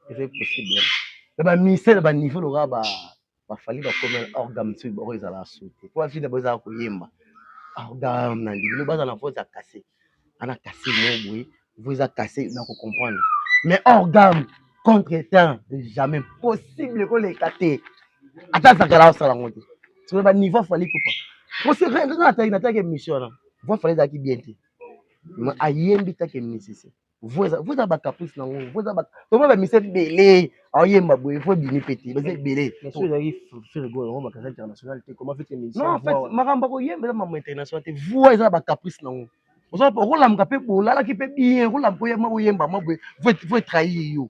eza possible na ba ministère ba niveau loka ba ba fali ba comme orgam tu boko ezala sauter pour vie d'abord ezala koyemba orgam na ndibino baza na voix ya cassé ana cassé mo boye vous eza cassé na ko comprendre mais orgam contre temps jamais possible ko leka te ata zakala osala ngo te sur ba niveau fali kupa ko se rendre na taille na taille émission na voix fali ezalaki bien te mais ayembi taille musicien voi eza voi eza ba caprice na ngo voi eza ba toma ba mise bele aoyemba boye voi bimi pete baza ebele so ezali fergo yango makanisa international te comment fete mise non en fait makambo koyemba eza makambo international te voi eza ba caprice na ngo oza okolamuka pe bolalaki pe bien okolamuka oyemba oyemba mwa boye voi voi trahir yo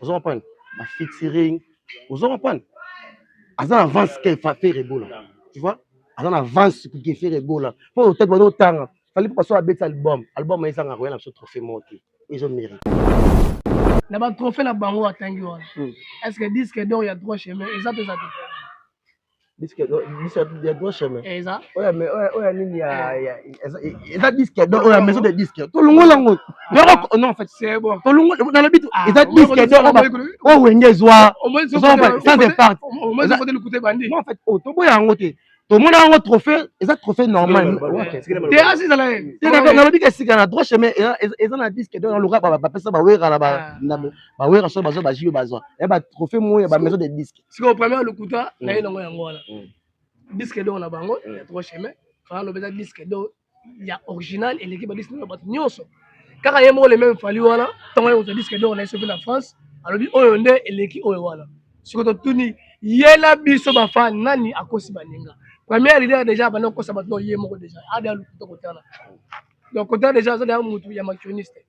ozo comprendre ba featuring ozo comprendre aza na avance ke Ferre Gola tu vois aza na avance ke Ferre Gola po otaki bana otanga fallait pas soit abeta album album ezanga koya na biso trophée moko te ezo mérite na ba trophée na bango atangi wana hmm. est ce que disque d'or ya droit chemin eza peza te disque do disque ya droit chemin eza oya mais oya oya nini ya ya eza eza disque do oya maison de disque to longola ngo yoko non en fait c'est bon to longola na lobi eza disque do oba o wenge zwa zwa pas sans départ au moins faut de l'écouter bandi non en fait o to boya ngo te tomona yango trophée eza trophée normal te asi ezala nalobi ke sika na droit chemin eza na disque do na loka bapesa bawera na bawera so bazwa bajibe bazwa ya batrophée moya bamaison de disque sikoyo premier lokuta na ye nango yango wana disque d'or na bango ya trois chemin fana loba eza disque d'or ya original eleki ba disque na bato nyonso kaka ye moko le même fali wana ntango ye kozwa disque d'or na ye soki na france alobi oyo nde eleki oyo wana sikoyo totuni ye na biso bafa nani akosi baninga première leader déjà abanda kokosa bato no ye moko déjà ada lokuta kotana donc kotana déjà aza deja motu ya makioniste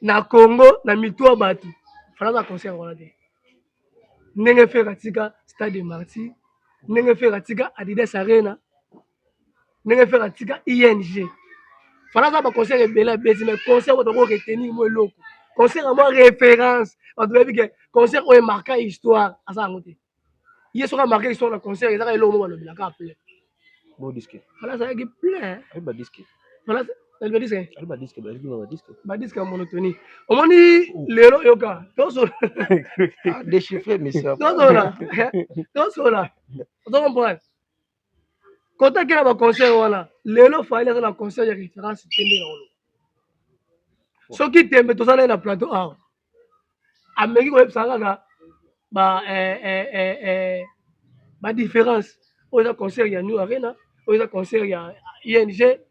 na congo na mitu ya bato fana aza concert wana te ndenge fere atika stade de marti ndenge fere atika adidas arena ndenge fere atika ing fana aza baconcert ebele abeti mai concert oyo toko retenir mo eloko concert ya mwa référence bato bayebi ke concert oyo emarka histoire aza yango te ye soki amarke histoire na concert ezaka eloko moko alobela kaka plein bodiske fala azalaki plein badiske fala badiske ya monotonie omoni lelo yoka tosola ah, déchiffre monsieur tosola tosola ozo comprendre kotaki na baconseil wana lelo faile aza na conseil ya référence te nde na oloba soki tembe toza naye na plateau awa ameki koyebisa kaka ba eh, eh, eh, eh, ba différence oyo eza concert ya new arena oyo eza concert ya ing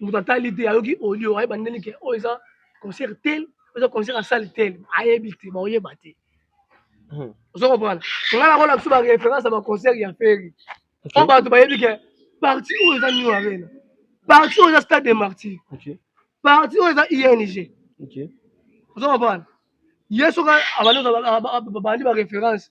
moto atali te ayoki audio ayeba ndeni ke oyo eza concert tel eza concert ya sale tel ayebi te baoyeba te hmm. ozo comprendre nga nakola biso baréférence ya baconcert ya feri po bato bayebi ke parti oyo eza new arena parti oyo eza stade de martyr parti oyo eza ing ozo comprendre ye soki abandi baréférence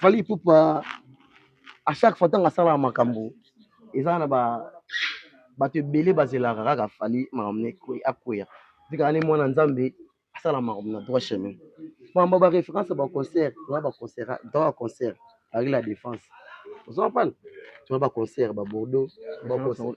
Fally Ipupa à chaque fois ntango asalaka makambo eza na ba bato ebele bazelaka kaka Fally makambo na akweya tikaka ne mwana nzambe asala makambo na droit chemin makambo ba référence ya baconcert tona baconcert droit ya concert ari la défense ozo comprendre tona baconcert babordeaux baconcert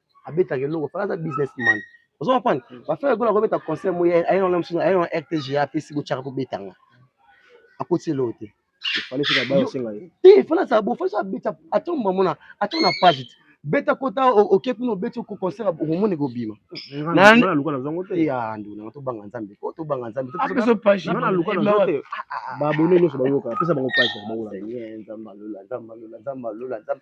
abetaka eloko fala aza businessman ozo comprendre mm. ba frère gola kobeta concert moye aye na musu aye na rtg apesi bochaka kobetanga akoti eloko te fala fika ba osenga ye te fala sa bo fala abeta atomba mona atona page te beta kota oke kuna obeti oko concert okomona ekobima nduna tobanga nzambe po tobanga nzambe babone nyonso bayoka apesa bango page ya baola nzambe alola nzambe alola nzambe alola nzambe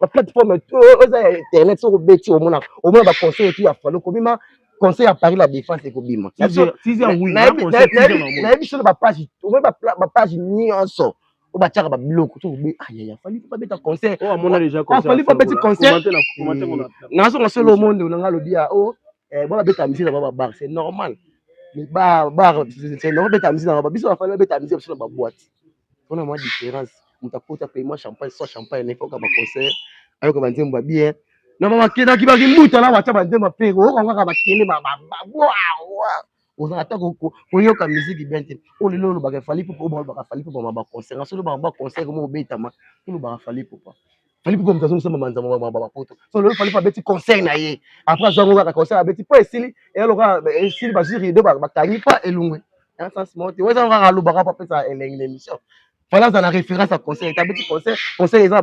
ba plateforme oyo eza ya internet soki obeti omona omona ba conseil etu ya falo kobima conseil ya paris la défense ekobima nayebi solo bapage omoni bapage nyonso oyo batiaka babiloko tofali babeta conseilfali babeti conseil nazonga solo omonde onanga alobi ya o bona beta misi na baba bar c'est normal bar c'est normal beta misi na baba biso bafali babeta misi biso na baboite wana mwa difference moto akota pema champagne soit champagne na ekoka baconcert ayoka banzembo ya bien na babakendaki bakimbuta na batya banzembo mpe oyoka kaka bakele bababoawa oza ata koyoka miziki bien te oyo lelo olobaka efali popa oyo balobaka fali popa ma baconcert na solo baba concert moko obetama olobaka fali popa Fally Ipupa moto azongisa mamanza mwa poto so lelo Fally Ipupa abeti conseil na ye après azwa yango kaka conseil abeti mpo esili eya lokola esili bazwi rido bakangi mpa elungwe ya sens moko te oyo ezango kaka alobaka mpo apesa elengi na émission Fally aza na référence ya conseil ete abeti conseil conseil eza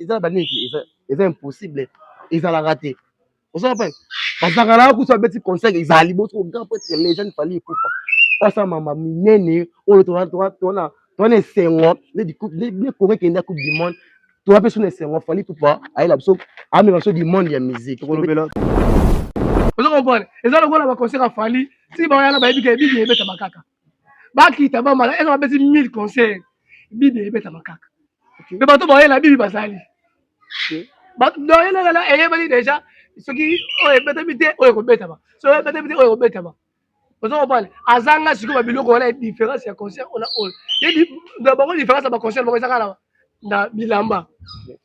na banini eza impossible ezalaka te oza pai bazalaka na kusa beti conseil ezala liboso ko grand prêtre legende fali ekufa osa mama minene oyo towana towana esengo nde congo ekende ya coupe du monde towa mpe sona esengo fali ekufa ayela biso amema biso du monde ya musique ozo comprendre eza lokola baconseil ya fali ti baoyana bayebi ke bibi ebetamaka kaka bakita bamala eza babeti 1000 concert bibi ebetama kaka mpe bato baye na bibi bazali doyenalala eyebani deja soki oyo ebetami te oyo ekobetama soki oyo ebetami te oyo ekobetama oza kopale azanga sikoyo babiloko wana différence ya concert ona oyo na bango différence ya baconcert bango ezaka na bilamba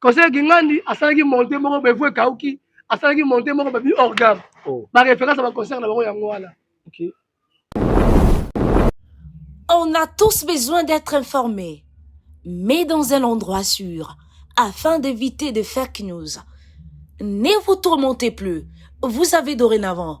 conseil kingandi asalaki monte moko bevu ekauki asalaki monte moko babi hors gamme oh. baréférence ya baconcert na bango yango wana On a tous besoin d'être informés, mais dans un endroit sûr, afin d'éviter des fake news. Ne vous tourmentez plus, vous avez dorénavant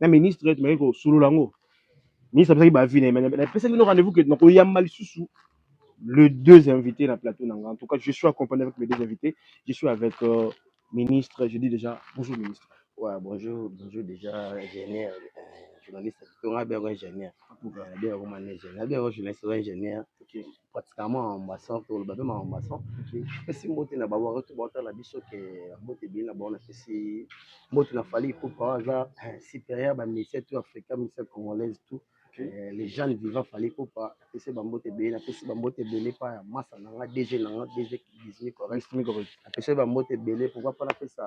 na ministre tumaki kosolola yango ministre apesaki baavis na ye mais napesaki bino rendez-vous que nakoyamba lisusu le deux invités na plateau na nga en tout cas je suis accompagné avec mes deux invités je suis avec euh, ministre je dis déjà bonjour ministre Ouais, bonjour, bonjour déjà, ingénieur, euh, journaliste, on a bien ingénieur, on a bien romané, on a bien journaliste, ingénieur, ok pratiquement makambo ya sang toloba mpe makambo ya sang napesi mbote na baoyo to baotala biso ke mbote ebele na bango napesi mbote na fali ipupa oyo aza eh, supérieur ba ministère tout africa ministère congolaise tout eh, les gens vivant fali ipupa napesi bambote ebele napesi bambote ebele epa ya masa na nga dg na nga dg dismi correct napesi bambote ebele pourquoi mpo napesa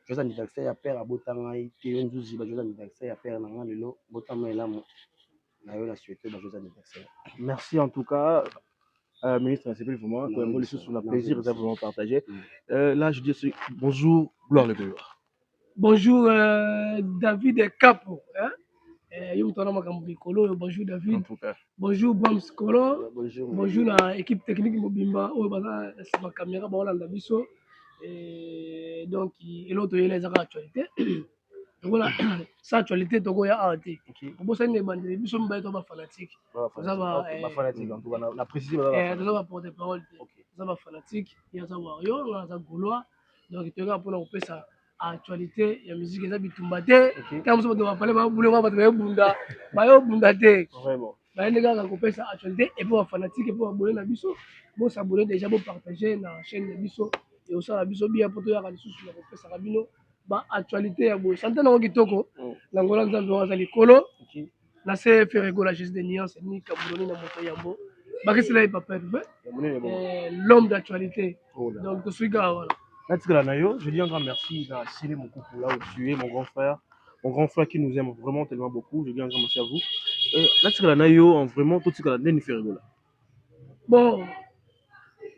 joyeux anniversaire ya père abota ngai te yo nzuzi ba joyeux anniversaire ya père na ngai lelo botama elamu na yo na souhaite ba joyeux anniversaire merci en tout cas euh, ministre nasepeli vraiment toyango lisusu na plaisir eza vraiment partage mm. euh, là je dis bonjour gloire le gloire bonjour euh, david capo hein? Eh, yo moto wana makambo mikolo oyo bonjour david bonjour bams kolo bonjour na équipe technique mobimba oyo baza na nsima kamera baolanda biso eh, donc eloko toyela eza kaka actualité lokola sa actualité tokoya awa te obosani na ebandeli biso mibale to bafanatique toza baporte parole te toza bafanatique ye aza wario nga aza golois donc toyekaka mpona kopesa actualité ya musique eza bitumba te ntango mosusu bato bapale babulema bato bayobunda bayobunda te bayende kaka kopesa actualité epe ba fanatique epe babone na biso bosabone deja bopartage na chaîne na biso ekosala biso bia mpo toyaka lisusu na kopesaka bino ba actualité ya boye sante nango kitoko mm. na ngola nzambe wana aza likolo na se feregola jesus de nuance ni kabuloni na moto yambo bakisela ye papa epe eh, l'homme d'actualité oh donc tosuika wana natikala na yo je dis encore merci na sele mokuku là où tu es mon grand frère mon grand frère qui nous aime vraiment tellement beaucoup je dis un grand merci à vous euh, natikala na yo en vraiment totikala ndeni ferigola bon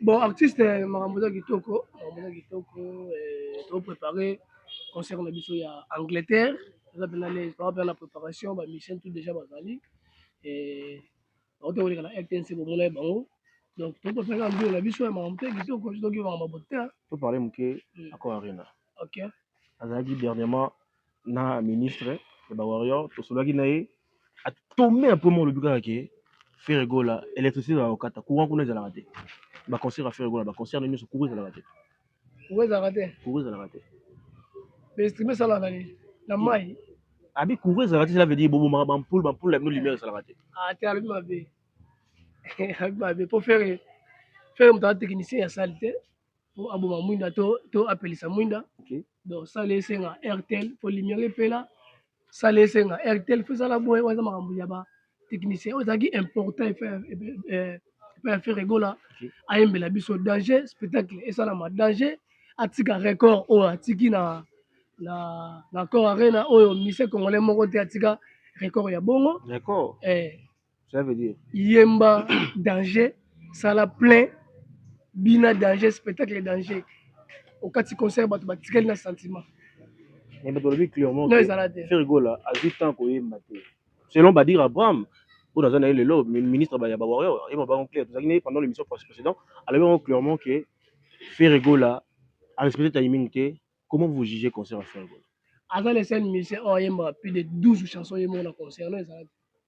bon artiste eh, makambo eza kitoko makambo eza kitoko eh, to préparé concert na biso ya angleterre eza mpena lese papa mpena na préparation bamisien tout déjà bazali eh, bauti koleka na rtnc bomona ye bango donc to préparé na mbio na biso ya makambo te kitoko soki makambo bote to parle moke hmm. accord arena okay. azalaki dernièrement na ministre ya ba warrior tosolaki na ye atombe ya premier olobi kaka ke ferre gola électricité ezalaka kokata courant kuna ezalaka te baconcert ya ferre gola baconcert na nyonso courant ezalaka te courant ezalaka te courant ezalaka te bainstrument esalaka na nini na mai abi courant ezalaka te cela veut dire bobomaka bampule bampule na bino lumière esalaka te ah, te alobi mabe alobi mabe mpo ferre ferre moto aza technicien ya sali te po aboma mwinda to, to apelisa mwinda okay. donc sala esenga airtel po lumière epela sala esenga airtel fo ezala boye oyo eza makambo ya ba technicien oyo ezalaki important epai eh, ya fere egola ayembela biso danger spectacle esalama danger atika record oyo atiki na na na cor arena oyo mise congolais moko te atika record ya bongo record eh ça veut dire yemba danger sala plein bina danger spectacle danger okati concert bato batikali na sentiment mais bato balobi clairement non ezala te fergola azwi temps koyemba te selon badir abraham oyo naza na ye lelo ministre ya bawarrior ayeba bango clair tozalaki na ye pendant l'émission précédent alobi yango clairement ke fergola arespecte timing te comment vous jugez concert ya fergola aza le seul musicien oyo ayembaka plus de 12 chansons ye moko na concert no ezalaki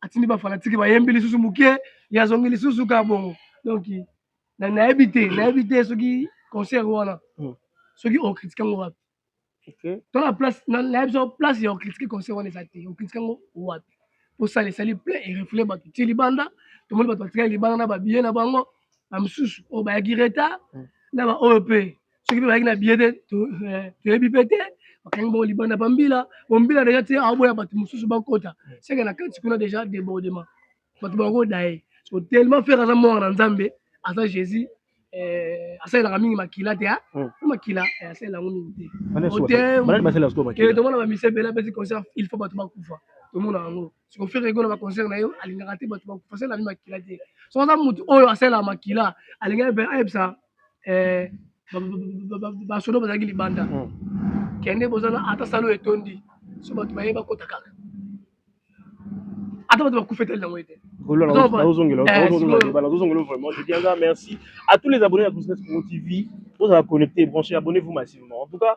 atindi ba fanatike bayembi lisusu moke ye azongi lisusu kaka bongo donc nayebi te nayebi te soki concert wana hmm. soki okritike yango wapi to na place nayebi so place ya okritike concert wana eza te okritike yango wapi osala esali plein erefule bato tie libanda tomoni bato batikali libanda na babiye na bango na mosusu oyo bayaki retard hmm. na baoyo mpe soki tozalaki na biye te toyebi mpe te bakangi bango libanda bambila bombila deja te aoboya bato mosusu bakota seke na kati kuna deja debordement bato bakoda ye so tellement fere aza mwana na nzambe aza jésus eh, asalelaka mingi makila te ah. hmm. makila eh, asalela yango mingi te tomona bamise ebele apesi concert il faut bato bakufa tomona yango siko fere egona ba concert na ye alingaka te bato bakufa sala mi makila te so aza motu oyo asalaka makila alingaki mpe ayebisa eh, basodo bazalaki libanda hmm. kende bozala ata salo etondi so bato baye bakota kaka ata bato bakufa etali yango ete à tous les abonnés à Business Pro TV. Vous avez connecté, branché, abonnez-vous massivement. En tout cas,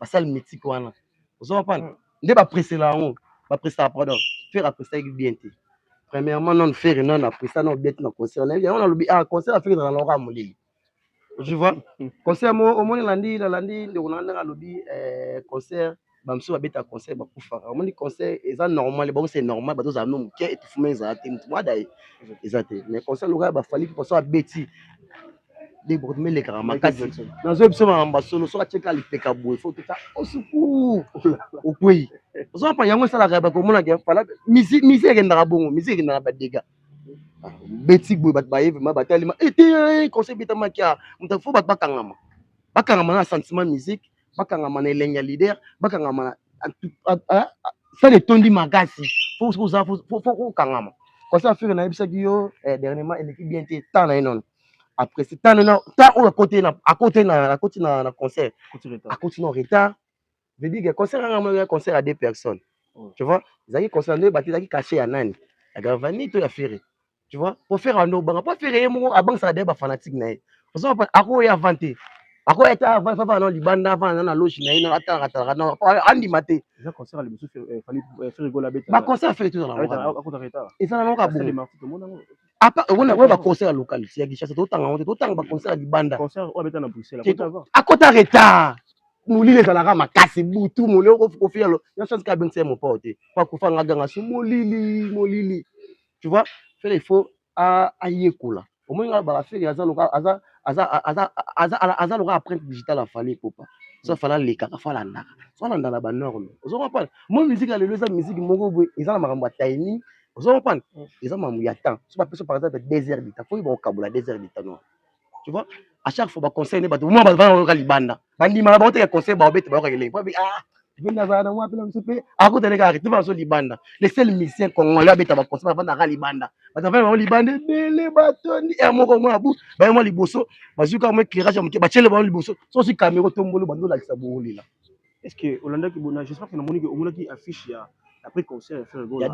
basali mitiki wana ozo comprendre mm. nde bapresela yango bapresaka pardon fere apreselaki bien te premièrement non fere non apresa na obeti na concert nayebi yango nalobi ah concert afere ezala na okaa molili tu vois concert mo omoni landi nalandi ndeko na ndenge alobi eh, concert bamosusu babeta concert bakufaka omoni concert eza normal bango c'est normal bato ozala no moke etufuma ezala te motu mwada eza te mais concert lokola bafali mposo abeti debord me elekaka makasi nazoyebi biso makambo ya solo soki atyeka lipeka boye fo tota osuku okwei ozo mpa yango esalaka bakomonaka fala misi ekendaka bongo misi ekendaka badega ah, beti boye bato baye vraimen batalima ete eh, eh, conseil betamaki a moto fo bato bakangama bakangama na sentiment musique bakangama na elengi ya leader bakangama na sale etondi makasi fo oza fo kokangama conseil afire nayebisaki yo eh, dernièrement eleki bien te temps na ye nono après c'est temps na temps oyo akote na akote na akoti na na concert akoti na retard je dis que concert nga moi un concert à deux personnes oh. tu vois zaki concert nde bati zaki caché ya nani ya Gravani to ya Ferre tu vois pour faire un banga pour faire ye moko abang ça des ba fanatique na ye ozo pa ako ya vanté ako ya ta va va non libanda va na loge na ye na ata ata na andi maté za concert le monsieur fallait faire gola beta ba concert fait tout dans la akota retard et ça na ka bon apa okona oyo baconcert ya local ya kinshasa totanga yango te totanga baconcert ya libanda akota retard molili ezalaka makasi butu molili okofi yalo ya chance ka abengisa ye mopao te po akufa nga ganga so molili molili tu vois fele il faut ayekola omoni nga baka fele aza loka aza aza aza aza aza loka apprenti digital afali popa so afala alekaka fo alandaka so alandaka banorme ozo comprendre mo musique ya lelo eza musique moko boye eza na makambo ya timing ozo comprendre mm. eza mamu ya temps so bapesa par exemple deux heures du temps fo oyeba kokabola deux heures du temps noa tu vois à chaque fois baconseil nde bato mwa bato bana bayoka libanda bandimaka bango teke conseil baobete bayoka kelenge po ah mpe nazala na mwa mpe na mosu mpe akota nde kaka te bazo libanda le seul musicien congolais abeta baconseil bafandaka libanda bato bafanda bango libanda ebele batondi er moko mwa abu baye mwa liboso bazwi kaka mwa éclairage ya moke batiele bango liboso sosi kamero tombolo bando olakisa bowolela Est ce que olandaki bona j'espère que namoni que omonaki affiche ya après concert ya Ferre Gola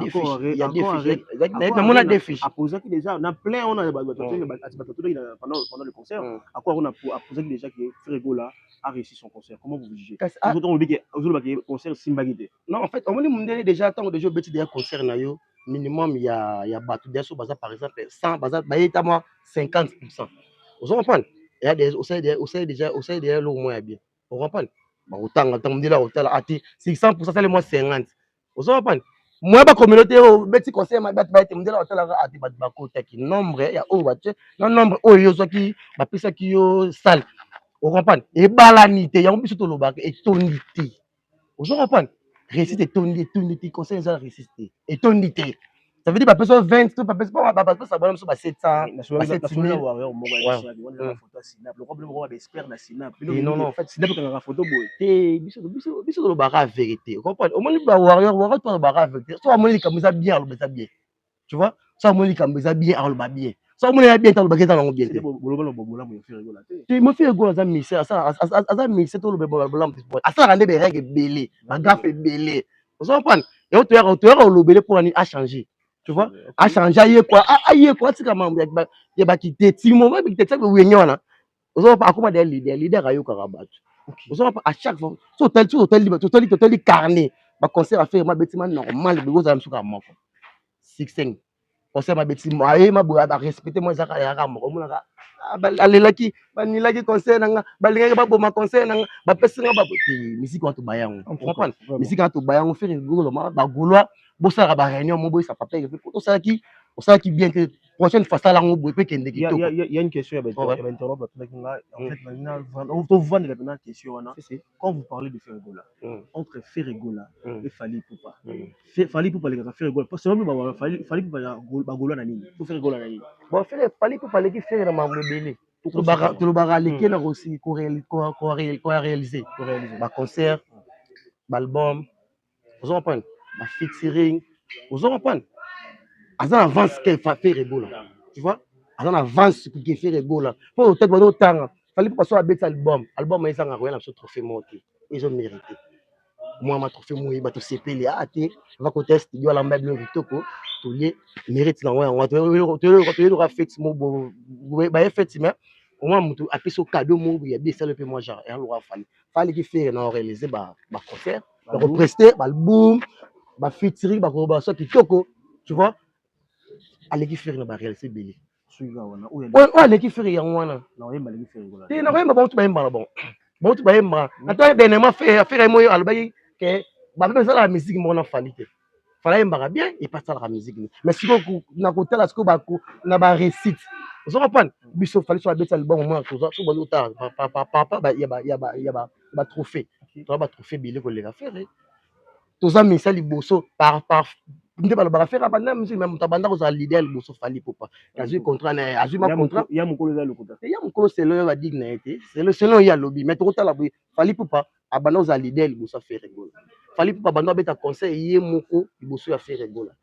na mona deux fiches aposaki déjà na plein on a ba ba totaki na pendant pendant le concert encore on a aposaki déjà que Ferre Gola a réussi son concert comment vous jugez vous autres on dit que vous autres que concert simbaki te non en fait omoni mundele déjà tango déjà obeti déjà concert na yo minimum ya ya bato déjà so baza par exemple 100 baza bayeta moi 50% ozo comprendre osali déjà osali déjà eloko moko ya bien okapani bakotanga ntango ndela kotala ate 600 asali mwa 50 ozo kapani moya ba communauté oyo oh, beti conseil mabe bato bayete mondela batalaka ate bato bakotaki nombre ya oyo oh, batie na nombre oyo oh, yo ozwaki bapesaki yo sale okomprane ebalani te yango biso tolobaka etondi te ozo comprendre réussite etondi etondi te conseil eza réussite te etondi te ça veut dire bapesa yo 20 to bapesa po bapesa bana biso ba 700 ba 7000 warrior moko ya biso abi wana photo ya sinap lokwa bino moko ba expert na sinap bino non non en fait sinap kanga photo boye te biso biso biso tolobaka vérité comprendre omoni ba warrior warrior to alobaka vérité so amoni likambo eza bien aloba eza bien tu vois ça moi likambo eza bien aloba bien ça moi ya bien taloba keta nango bien te boloba na bobola mo fere gola te te mo fere gola za mixé asala aza mixé to lobe bola mo sport asala nde bereg belé ba gap belé ozo comprendre et to yaka to yaka lobele pour ani a changer tu vois a changer ye quoi a ye quoi tika mambo ya ba ya ba kiteti mo ba kiteti ko wenge wana ozo pa akoma deya leader leader ayokaka bato ozo pa à chaque fois so tali so tali ba tali to tali carnet ba concert à faire ma beti ma normal bi ozala msuka moko 16 concert ma beti ma ye ma boya ba respecter moi zaka ya ka moko mona ka ah, alelaki banilaki conseil na nga balingaki baboma conseil na nga bapesi nga babote misiki wato bayango comprendre misiki wato bayango fere golo ma bagolois bosalaka baréunion mo boyisa papeke mpe osalaki osalaki bien te prochaine fois sala yango boye mpe kende kitoko ya une question ya bainterrobe batindaki nga en fait nalingi na tovandela mpena question wana quand vous parlez de ferregola entre ferregola e fali ipupa fali ipupa alekaka ferregola parce que bamama fali ipupa bagolola na nini to ferregola na nini bon fere fali ipupa aleki fere na mambo ebele tolobaka aleki na korealize baconcert baalbum ozo comprendre ba featuring ozo comprendre aza na avance ke Ferre Gola tu vois aza na avance ke Ferre Gola po otete bazo tanga fali pa so abeti album album ezanga koya na biso trophée moko te ezo mérite mwa ma trophée moye bato sepeli a ah, te va kota studio alamba bino kitoko tolie mérite na ngo yango toyeloka fete mo baye fete mais omwa moto apesi o cadeau moko ya bi esali mpe mwa genre ealoka fali fali ki fere na orealize ba concert bako prester ba album ba featuring bako ba so kitoko tu vois aleki ferre na ba réalité belé oyo aleki ferre yango wana te nakoyemba bauti bayemba na bango bauti bayemba ata dernièrement ferre moyo alobaki ke bape ezala ya misiki moko na fali te Fala yembaka bien et pas salaka musique ni. Mais siko na kotala siko ba na ba récite. Ozo comprendre? Biso fali so abetsa libongo mwana toza so bazo kotala pa pa pa pa ba ya ba ya ba ya ba ba trophée. Toza ba trophée bile ko lela ferre. Toza misa liboso par par nde balobaka fera banda musique mais moto abanda kozala leader liboso fali popa azwi contrat na azwi ma contrat ya mokolo eza lokuta ya mokolo selo ya badigne na ye te selo selo ye alobi mais tokotala boye fali popa abanda kozala leader liboso ya Ferre Gola. Fally Ipupa abanda abeta concert ye moko liboso ya Ferre Gola.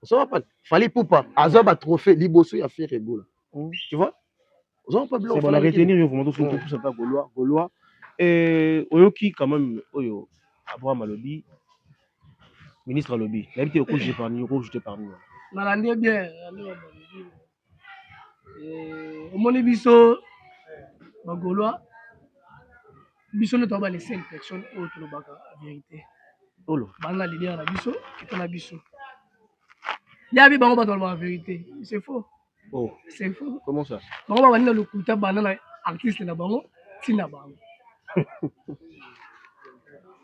Ozo comprendre? Fally Ipupa azwa ba trophées liboso ya Ferre Gola. Mm. Tu vois? Ozo comprendre biloko C'est bon, na Fally Ipupa? retenir yo vraiment tous Mm. tous ata golois golois eh oyoki quand même oyo Abraham alobi ministre alobi nayebi te oko jeter parmi oko jeter parmi wana nalandi ye bien nalandi makambo ya mokili. Eh, omoni biso bagolois biso nde toa bale seule personne oyo tolobaka verité olo bana na leader na biso kita na biso yabi bango bato balobaka verité c'est faux oh. c'est faux comment ça bango babandi na lokuta banda na artiste na bango ntina bango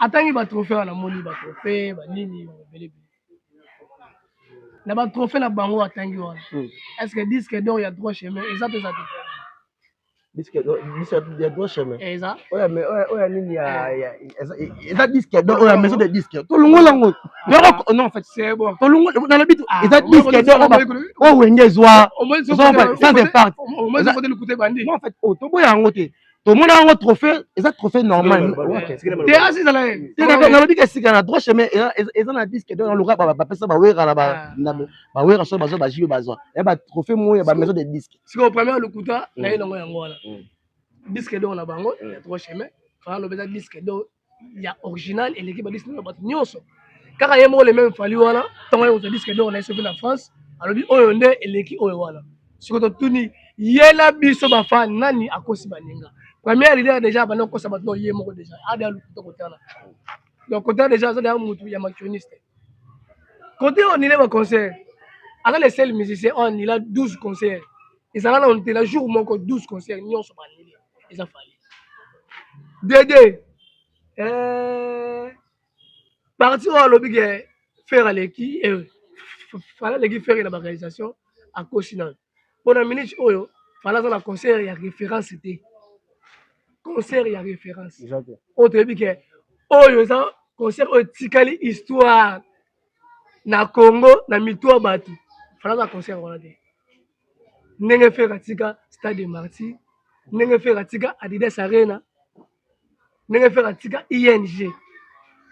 atangi batrophée wana namoni batrophée banini babelebele na ba trophée na bango atangi wana hmm. est ce que disque d'or ya droit chemin eza to eza te disque d'or ya droit chemin eh, eza oya mais oya oya nini ya eh. eza disque d'or oya maison de disque to longola ngo yoko non en fait c'est bon to longola na lobi to ah, eza disque d'or ba o wenge zwa sans impact o moins faut te l'écouter bandi en fait o to boya ngo te tomona yango trophée eza trophée normal te asi ezala nalobi ke sika na droit chemin eza na disque donc naloka bapesa bawera na bawera so bazwa bajibe bazwa ya batrophée moko ya bamaison de disque sikoyo premier lokuta naye nango yango wana disque donc na bango ya droit chemin fana lobi eza disque donc ya original eleki ba disque d'or ya bato nyonso kaka ye moko le meme fali wana ntango aye kozwa disque d'or na ye soki na france alobi oyo nde eleki oyo wana siko totuni ye na biso bafan nani akosi baninga première leader déjà abanda kokosa bato no ye moko déjà ada lukuta kotala donc kotala déjà aza deya motu ya macroniste kote oyo nile baconcert aza le seul musicien oyo anila 12 concert ezala na ontela jour moko 12 concert nyonso banile eza fali dede eh, parti oyo alobi ke fere aleki eh, fala aleki fere na baorganisation akosi nano mpo na minute oyo fala aza na concert ya référence te concert ya référence oyo toyebi ke oyo eza concert oyo etikali histoire na congo na mitu ya bato fala aza concert wana te ndenge Ferre atika Stade de Martyrs, ndenge Ferre atika Adidas Arena, ndenge Ferre atika ING.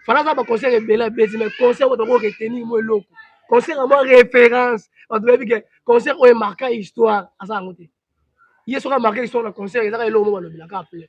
Fana aza ba concert ebele abeti mais concert oyo toko retenir mo eloko. Concert ya mwa référence, bato bayebi ke concert oyo emarka histoire aza yango te. Ye soki amarke histoire na concert ezaka eloko mo balobela kaka plein.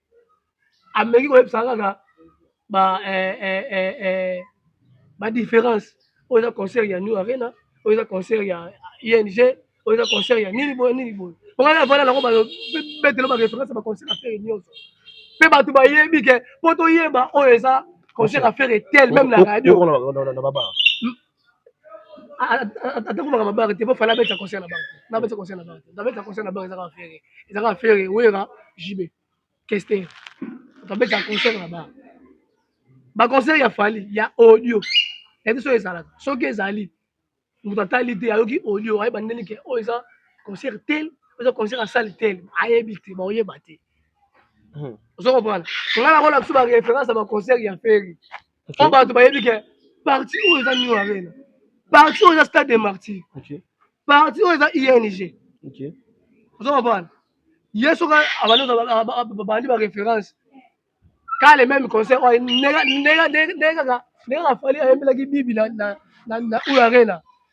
ameki koyebisa kaka ba eh, eh, eh, eh, ba différence oyo eza concert ya new arena oyo eza concert ya ing oyo eza concert ya nini boye nini boye ongai avanda nango babetelo ba référence ba concert afere nyonso mpe bato bayebi ke mpo toyeba oyo eza concert afere tel meme na radio atako makambo ya banke te mpo fala abeta conseil na banke na abeta conseil na banke abeta conseil na banke ezaka afere ezaka afere wera jb kester abeta conseil na banke baconseil ya fali ya audio yayebi soki ezalaka soki ezali moto atali te ayoki audio ayeba ndeni ke oyo eza concert tel oza concert asali tel ayebi te baoyeba te ozo comprendre nga nakolakisa ba référence ya baconcert ya feri okay. oyo bato bayebi ke parti oyo eza new arena parti oyo eza stade de martyr okay. parti oyo eza ing okay. ozo comprendre ye soki abandi baréférence ka le même conseil oyo ndenge kaka fali ayembelaki bibi na oyo arena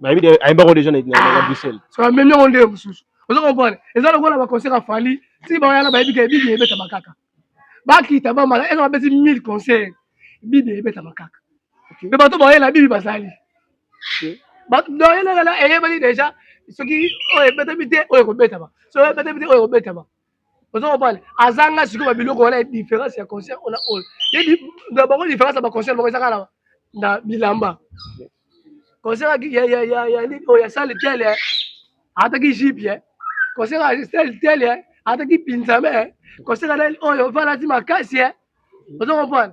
nayebi te ayemba ko deja na Bruxelles so amemi yango nde mosusu ozo comprendre eza lokola ba concert ya Fally ti ba yana bayebi ke bibi ebeta makaka bakita ba mala eza babeti 1000 concert bibi ebeta makaka mais bato bayela bibi bazali bato doyelela eyebani deja soki oyo ebetami te oyo ekobetama soki oyo ebetami te oyo ekobetama oza kopale azanga sikoyo babiloko wana ya différence ya concert ona oyo yebi na bango différence ya baconcert bango ezaka na na bilamba concert ya ya ya ya nini oyo ya sale tele eh. ataki jipe eh. concert ya sale tele eh. ataki pinzame concert na oyo valati makasi oza kopale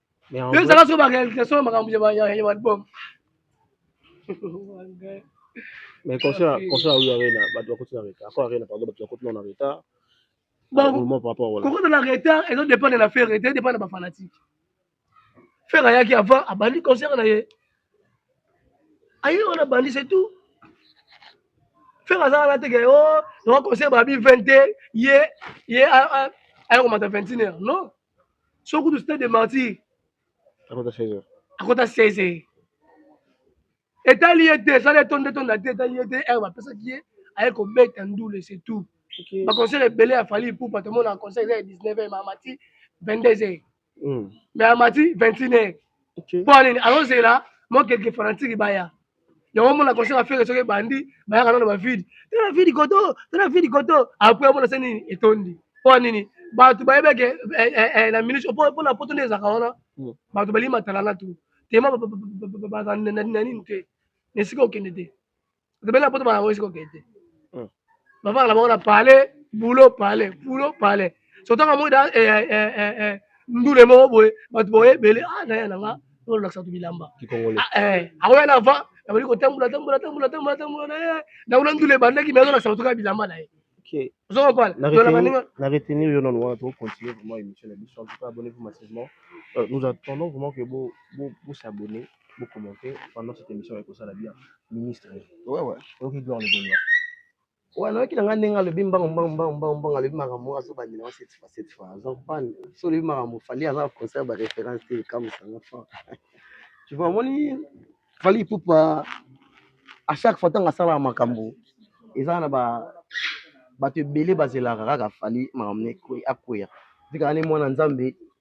yo ezaka soki barealisation ya makambo ya balbum mais concert concert oyo arena bato bakoti na retard ako arena pardon bato bakoti na retard kokota na retard ezo dépendre na ferre te dépendre na bafanatique ferre ayaki avant abandi concert na ye aye wana abandi c'est tout ferre azaka na teke o oh, naka concert babi 20 te ye ye aye komata 21 heure non so kutu stade de martyr akota 16 akota 16 etali ye te esala etonda etonda te etali ye te heure bapesaki ye aye kobeta ndule c'est tout okay. baconcert ebele ya fali ipupa tomona concert eza ya 19 heure maamati 22 heure mm. mais amati 21 heure okay. mpo anini azozela mokeke fanatique baya yango omona concert ya fere soki ebandi bayaka nano ba vide tala vide koto tala vide koto apres omona se nini etondi mpo nini bato bayebi eke eh, eh, eh, na minute mpo na poto nde ezalaka wana hmm. bato balingi matala na tu tema baza na nini te na esika okende te bato balingi na poto baza esika okende te hmm. bavaka na bango na pale bulo pale bulo pale sotanga moi da eh, eh, eh, eh, eh, ndule moko boye bato boye ebele ah naya na nga olakisa bato bilamba Ah, eh, akoya na va abandi kotambola tambola tambola tambola tambola na ye nango na ndule ebandaki mai azolakisa bato kaka bilamba na ye ozo comprendre Na Donc, na baninga retenir- na retenir yo nanu wana tokocontinue vraiment émission na biso en tout cas abonnez-vous massivement Euh, nous attendons vraiment que bo- bo- bosabonne Bo commenter pendant cette émission ya kosala bien. Ministre. Ouais ouais. Oyoki gloire le Gaulois. Ouais, nayoki na ngai ndenge alobi mbango mbango mbango mbango mbango alobi makambo azo bandela wa cette fois cette fois. Azo pan so olobi makambo fali aza concert ba référence te comme ça nga fort. Tu vois moni fali pupa à chaque fois tanga sala makambo eza na ba bato ebele bazelaka kaka fali makambo ne akweya. Tika ne mwana Nzambe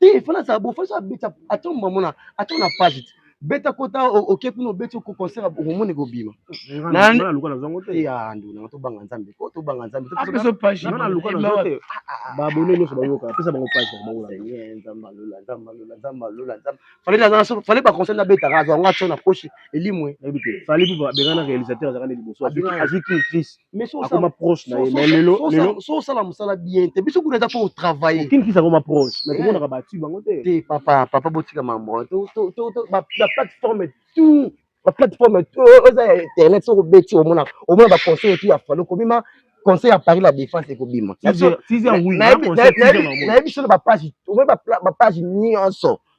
te fana azala bo fana abeta ata mamona ata na page te beta kota oke kuna obeti oko concert omoni kobima anduna tobanga nzambe po tobanga nzambe babone nyonso bayoka apesa bango page fale baconseil nabetaka azwa yango atio na poche elimwe fale mpo bengana réalisateur azalaka nde liboso azwi king crise akoma proche na ye mais lelo lelo so sala musala bien te biso kuna eza po travailler kin kisa akoma proche mais komona ka batu bango te te papa papa botika mambo to to to to ba plateforme tout ba plateforme tout eza ya internet soko beti omona omona ba conseil tout ya falo komima conseil ya paris la défense ekobima nayebi solo ba page omoni ba page nyonso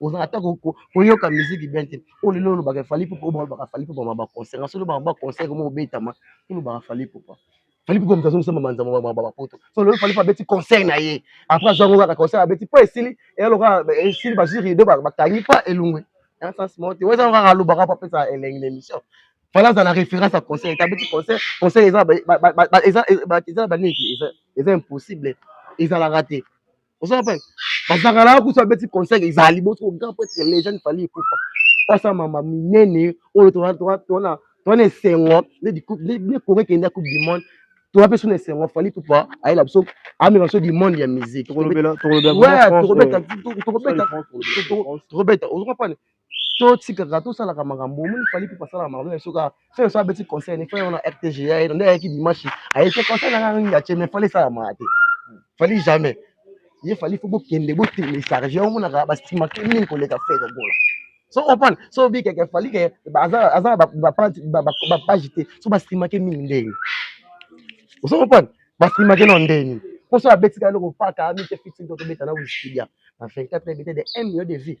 ozala ata koyoka miziki bien te oyo lelo olobaka fali pupa oyo balobaka fali pupa ma baconcert naso olobaka baconcert moko obetama olobaka fali pupa fali pupa moto azongisa mamanza bapoto so lelo fali pupa abeti concert na ye après azwango kaka concert abeti mpo esili eyaloka esili bazwi rido bakangi mpa elungwe na sens moko te oza kaka alobaka mpo apesa elengi na émission fali aza na référence ya concert ete abeti concert concert eza eza baniki eza impossible ezalaka te oza na pale bazaka na kusa beti conseil ezali boso grand prêtre les jeunes fallait ekufa pasa mama minene oyo tona tona tona tona esengo ne di ne kore kenda coupe du monde toza mpe suna esengo fali pupa ayela biso amema biso du monde ya musique tokobeta tokobeta ozoka pane to tikaka to salaka makambo omoni fali pe pasala makambo ya soka fe so abeti conseil ni fe ona rtg ya eno nde ayaki dimanche ayete conseil nanga ngi ya cheme fali sala ma te fali jamais ye fali faut bokende bo télécharger yo monaka ba stima ke mingi koleka fe ko gola so opan so bi keke fali ke aza aza ba ba page ba ba page te so ba stima ke mingi ndenge so opan ba stima ke no ndenge poso abeti ka loko paka mi te fixing to beta na wikipedia na 24 ebete de 1 million de vues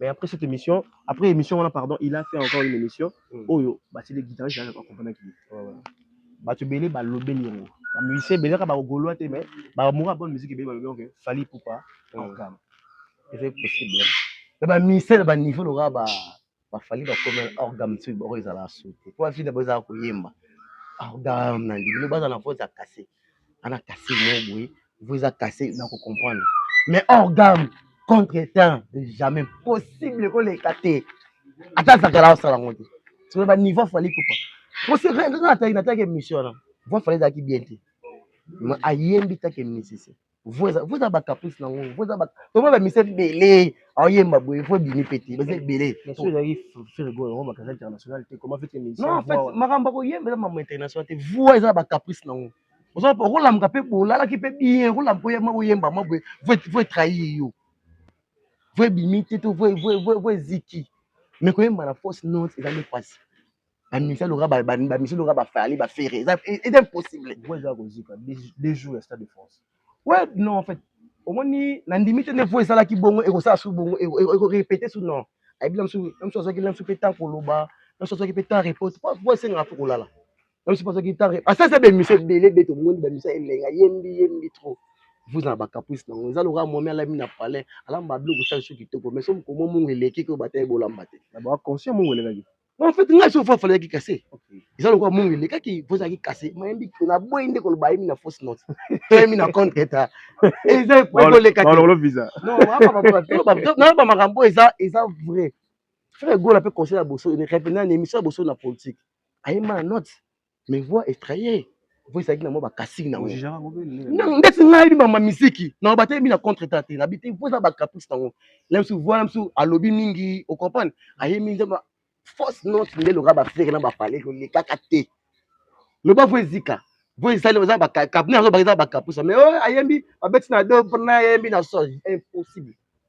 Mais après cette émission, après émission wana pardon, il a fait encore une émission mm. oyo batili guitariste ya accompagner qui. Batu belé ba lobeli yango. Ba musicien belé ka ba golois te mais ba moura bonne musique belé ba lobeli que Fally Poupa mm. en gamme. C'est possible. Mais ba musicien ba niveau le ba ba Fally ba comme hors gamme tu ba ezala sauter. Pour la fille ba ezala ko yemba. Hors gamme na ndimi ba za na faute à casser. ana kase mo boye vo eza kase na ko comprendre mais hors gamme contre temps jamais possible koleka te ata azakala osala yango te sikoyo ba niveau afali kupa poseataki nataki émission wana vo afali ezalaki bien te mais ayembi taki musicien vo eza bacaprice na ngo vo eza tomona bamisa ebele oyemba boye fo ebimi mpe te baza ebele makambo akoyemba eza mambo international te voi eza na bacaprice na yango okolamuka mpe bolalaki mpe bien okolamuka oyema oyemba mwa boye voi trahir yo voi ebimi te to voi eziki mais koyemba na fausse note eza nde mpasi ba musiciens loka ba ba musiciens loka ba fali ba ferre eza eza impossible voix eza ko zika des jours ya stade de France ouais non en fait omoni na ndimi te ne voix ezalaki bongo et ko sala sous bongo et ko répéter sous non ayebi na msu na msu azaki na msu pe temps ko loba na msu azaki pe temps repose pas voix senga faut ko lala na msu azaki temps repose asa eza ba musiciens belé be to moni ba musiciens elenga yembi yembi trop vous na ba caprice na ngo eza loka momi alami na palais alamba biloko sali soki kitoko mais soki komo mungu eleki ko bataye bolamba te na ba conscient mungu elekaki en fait ngai soki fafala yaki kase eza lokola mongo elekaki mpo ezalaki kase mayembi naboyi nde koloba ayemi na fausse note toyemi na contre eta eza ekolekakinayoba makambo eza eza vrai frère egola mpe conseil ya boso revenant na émission ya boso na politique ayemba na note mais voix estraye voix ezalaki na mwa bakasiki nango ndeti ngai yebi bamba miziki na batelemi na contre ta te nabi te voix eza bacaprice nango na biso voix na biso alobi mingi ocomprane ayemi nzembo force note nde loka bafere na bapale kolekaka te loba voix ezika voix esali eza bakabine yango baka eza bacaprice mais oyo ayembi babeti na do mpona ayembi na sol impossible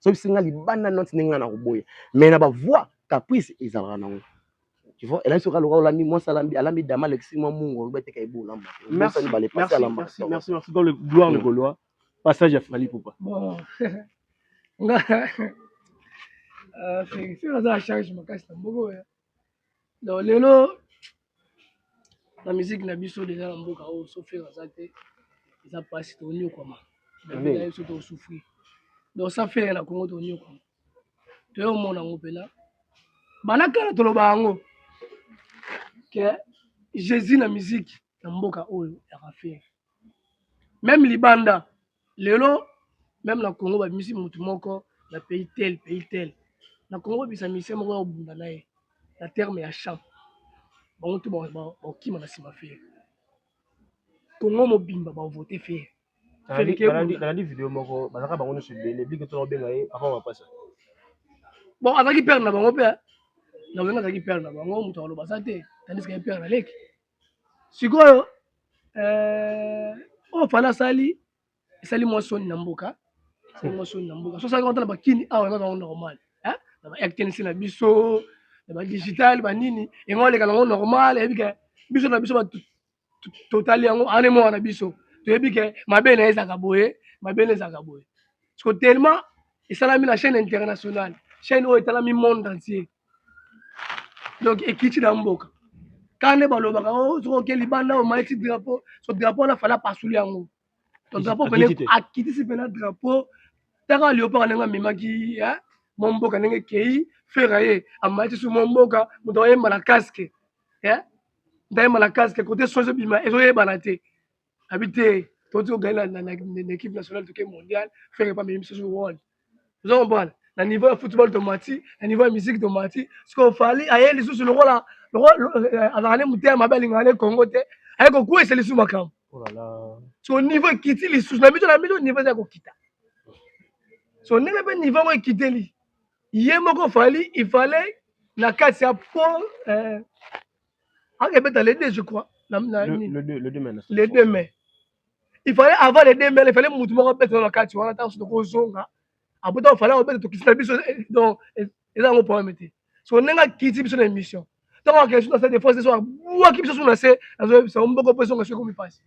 soki bisenga libanda noti ndenge na koboya mais na bavoi caprice ezalaka nango tu vois elaki soki aloka olandi mwasi alambi alambi dama alekisi mwa mungu olobi ateka ebo olamba merci merci merci merci dans le gloire le mm. gaulois passage ya Fally Poupa bon nga euh, Félix aza charge makasi na mboko ya donc lelo na musique na biso deja na mboka oyo so fere aza te eza mpasi tonyokwama na biso tosouffrir donc sa fere na congo tonyokwama toyo omona yango mpena bana kala toloba yango ke jésus na musique na mboka oyo yaka fere meme libanda lelo meme na congo babimisi motu moko na pays tel pays tel na congo bisa misie moko ya kobunda na ye na terme ya champ bango tu bakokima na nsima fere congo mobimba bavote fere nalandi video moko bazalaka bango nyonso ebele bike tona kobenga ye avant bapasa bon azalaki pere na bango mpe na wenga azalaki pere na bango moto akoloba aza te tandiske ye pere na leki sikoyo euh, oyo fana asali esali mwa soni na mboka esali mwa soni na mboka so asalaki na bakini awa eza nango normal na ba rtnc na biso na ba digital banini yango aleka nango normal eyebi ke biso na biso totali yango ane moko na biso toyebi ke mabe na ye ezalaka boye mabe na ezalaka boye siko tellement esalami na chaîne internationale chaîne oyo etalami monde entier donc ekiti na mboka kaka nde balobaka o oh, soki oke libanda omai ti drapeau so drapeau wana fala pasuli yango to drapeau pene akitisi mpena drapeau taka liopaka ndenge amemaki eh, mwa mboka ndenge ekei fera ye amai ti su mwa mboka moto ayemba na casque eh, ndayemba na casque kote soki ezobima ezoyebana te abi te toti ogani na équipe nationale toke mondial frere epa memi misusu world oza comprendre na niveau ya football tomati na niveau ya musique tomati sikoyo fali aye lisusu lokola euh, azalaka nde motema mabe alingaka nde congo te aye kokwesa lisusu makambo oh so niveau ekiti lisusu na biso na biso niveau eza kokita so ndenge mpe niveau yango ekiteli ye moko fali ifale na kati ya po euh, ake beta le 2 je crois na, na, le, le, le, le 2 mai le 2 mai il fallait avant le 2 mai il fallait mutu moko abeta na kati wana ntango soki okozonga abuta ofale obeta tokisi na biso eh, donc eh, eza yango problème te so ndenge akiti biso na émission ntango akei na stade de france so abwaki biso so na se azoyebisa yo mboko mpo ezonga soki ekomi mpasi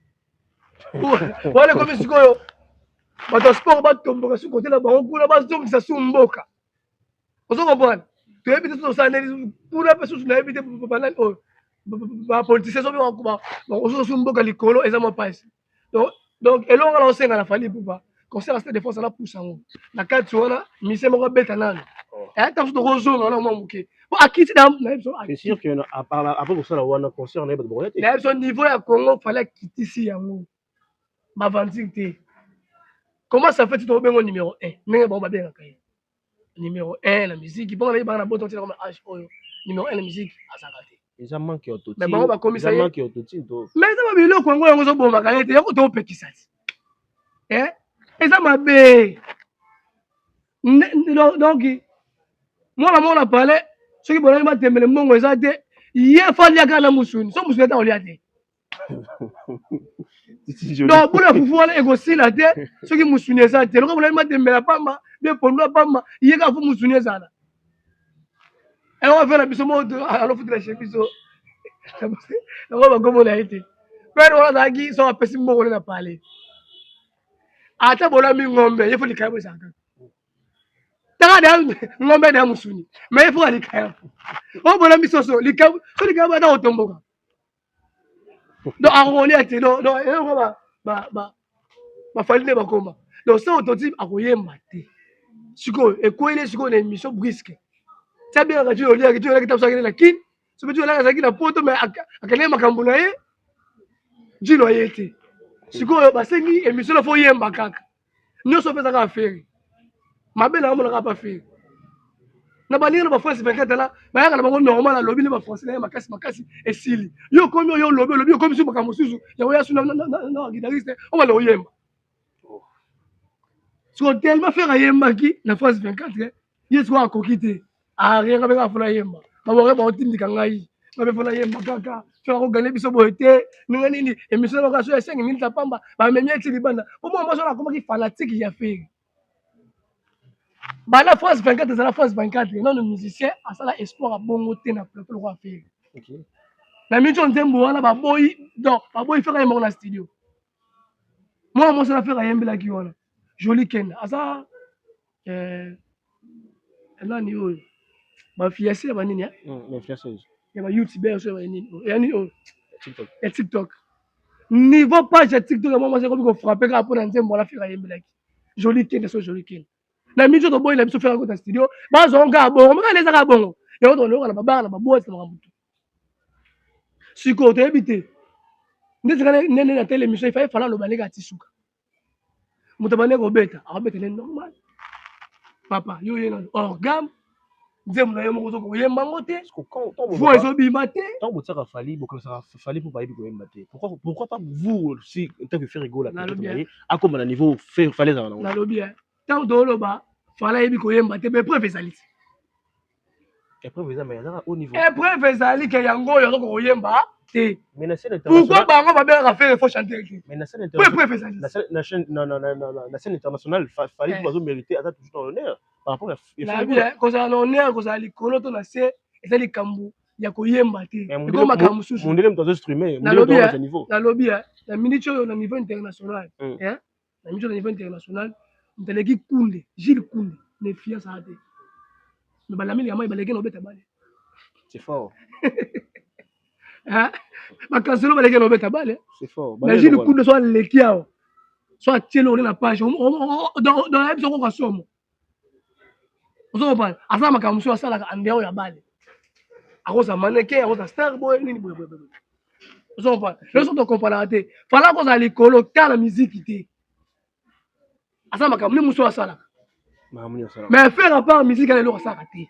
wana ekomi sikoyo bato ya sport batomboka soki kote na bango kuna bazongisa su mboka ozo comprendre toyebi te tosala ndeni kuna mpe susu nayebi te banani oyo bapolitisien soki osusu mboka likolo eza mwa mpasi donc elonga na osenga na fali pupa conseil ya stade de france anapusa yango na kati wana mise moko abeta nano ntango so tokozonga wana mwa moke po akiti na biso apres kosala wana concert na ye bato bakoya te na biso niveau ya congo fali akitisi yango ba aventure te comment ça fait to bengo numéro 1 ndenge bango babengaka ye numéro 1 na musique mpo nayebi bana boto ntina koma age oyo numéro 1 na musique azalaka te eza manque ya autotune mais bango bakomisa ye manque ya autotune to mais eza babiloko yango yango ezobomaka ye te yango topekisa ti eh eza mabe donc mwana mwana pale soki bolaki batembele mbongo eza te ye fali akala na musuni so musuni ata kolia te donc bula fufu wana ekosila te soki musuni eza te lokola bolali matembela pamba mpe pondu ya pamba ye kaka fo musuni ezala yango eh, afela biso moko alofutela chez biso yango bakomona ye te pere wana azalaki soki apesi mbongole na pale ata bolami ngombe ye fo likaya bozalaka taka da ngombe na musuni ma ye fo alikaya o bolami soso likaya so likaya ata kotomboka donc akokolia te donc eloko bafali nde bakoma donc soko toti akoyemba te sikoyo ekwele sikoyo na émission briske tia bien kati oliaki ti olaki tabuso akende na kin so mpe ti olaki azalaki na poto me akendaki makambo na ye jino aye te sikoyo basengi émission na fo oyemba kaka nyoso apesa kaka feri mabe na amona kaka pa feri na baninga na bafrance 24 ala bayaka na bango normal alobi nde bafrancais na ye makasi makasi esili yo okomi oyo olobi olobi okomi su makambo mosusu yango yasu na guitariste obanda koyemba siko tellement fere ayembaki na france 24 ye sikoyo akoki te arianga mpe kaka mpo nayemba babore baotindika ngai ngabe mpo nayemba kaka soki akogane biso boye te ndenge nini emission na bakaso ya esengi minita pamba bamemi eti libanda mpo mwa mwasi wana akomaki fanatike ya feri bana france 24 ezala france 24 nano musicien asala espoir abongo te na plateau lokola feri na mitio nzembo wana baboyi don baboyi fera yembako na studio mwana mwasi na fera ayembelaki wana joli kenda aza Eh, nani oyo ba fiancé ba nini hein? Mm, ba fiancé. Ya ba youtubeur so ba nini? Oh, ya nini oyo? Oh? TikTok. Ya TikTok. Niveau page ya TikTok ya mama seko biko frapper ka pona nzembo wala fika yembelaki. Jolie Ken so Jolie Ken. Na mijo to boy na biso fika ko ta studio. Ba zo nga bongo, maka leza ka bongo. Ya ko to loka na ba bar na ba boîte na makambo. Siko to ebite. Ndezaka nene na tele mission, il fallait fala loba leka tisuka. moto abandi kobeta akobeta nde normal papa yo oye na orgame nzembo na yo moko ozo koyemba yango te voi ezobima te ntango botiaka fali bokanisaka fali mpo bayebi koyemba te pourquoi pas vous aussi ntango efere egola ye akoma na niveau fale ezala nango nalobi ntango toloba fala ayebi koyemba te bepreuve ezali te epreuve ezali ke yango oyo azoko koyemba te pourkoi bango babengaka fere fo chanter te po epreuve ezalina scène internationale fali bazo mérite aza toujours na honneur par rapport ya kozala na honneur kozala likolo to na se eza likambo ya koyemba te eko makambo mosusu nalobi na minute oyo na niveau international na miso na niveau international moto aleki kunde gile kunde mefiance aa te me balameli ya mai baleki na obeta bale c'est fort bakanselo baleki na obeta bale na gile kunde so aleki awa so atieli ole na page donc nayebi soko kasomo ozo comprendre aza makambo mosusu asalaka andeo ya bale akozala maneke akozala star boye nini boye boye boye ozo comprendre lelo soki tokomparaka te fala akozala likolo ta na miziki te aza makambo nini mosusu asalaka mais faire apart miziki ana eloko asalaka te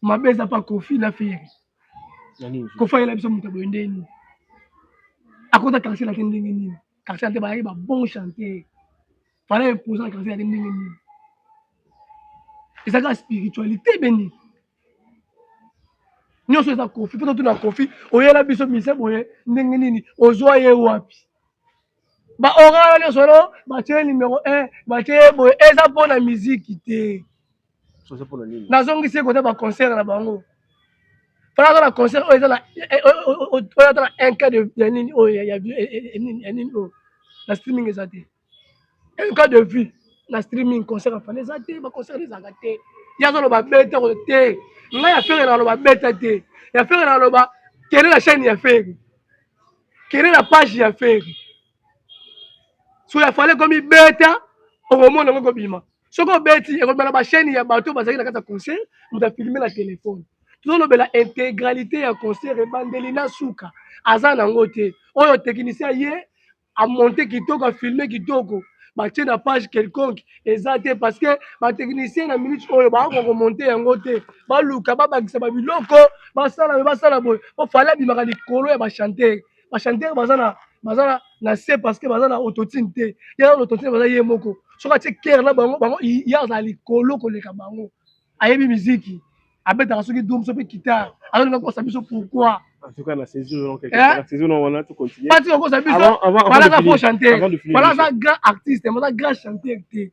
mabe eza pa kofi na feri kofi ayela biso moto boye ndenge nini akota quartier na te ndenge nini quartier na te bayaki ba bon chanteur fala eposa na quartier na te ndenge nini ezaka spiritualité beni nyonso eza kofi mpo totuna kofi oyela biso mise boye ndenge nini ozwa ye wapi baorana nyonso no batye nimero 1 batye boye eza mpo na miziki te nazongisi ekota baconcert na bango mpona aza na concert oyo eza na eh, oyo ata na un cas ya nini oyo ya nini oyo na streaming eza te un cas de vue na streaming concert afana eza te baconcert ezalaka te ye azoloba beta ko te ngai ya fere naloba beta te ya fere naloba kende na chaîne ya fere kende na page ya fere so ya fale komi beta okomona yango kobima soki obeti ekolobela na bachaine ya bato bazali na kati ya concert moto afilme na telefone tozolobela integralité ya concert ebandeli na suka aza nango te oyo technicien ye amonte kitoko afilme kitoko batie na page quelconque eza te parce que batechnicien na minute oyo bakoka komonte yango te baluka babakisa babiloko basala me basala boye ofale abimaka likolo ya bachantere ba chanteur baza na baza na na se parce que baza na autotune te ye na autotune baza ye moko soki atie kere na bango bango ye azala likolo koleka bango ayebi miziki abetaka soki dum soki kitare azolinga kosa biso pourquoi batika kosa biso balaka fo chanteur bala aza grand artiste mais aza grand chanteur te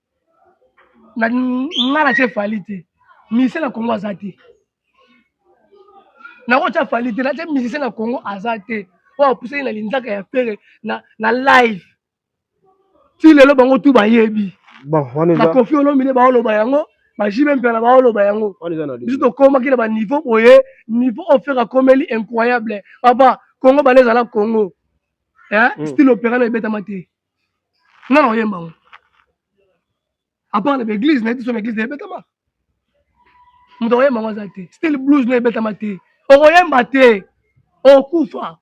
na nga na tie fali te musicien na congo aza te nakotya fali te natye musicien na congo aza te oyo apusaki na linzaka ya fere na, na live ti lelo bango tu bayebi bakofi olomide baoloba yango bajibe mpela baoloba yango biso tokomaki na baniveau boye niveau oyo fere akomeli incroyable papa congo bale ezala congo eh? mm. style opera na ebetama te nga na oyemba ngo apart na baeglise nayebi so na eglise na ebetama moto akoyemba ngo aza te style blues na ebetama te okoyemba te okufa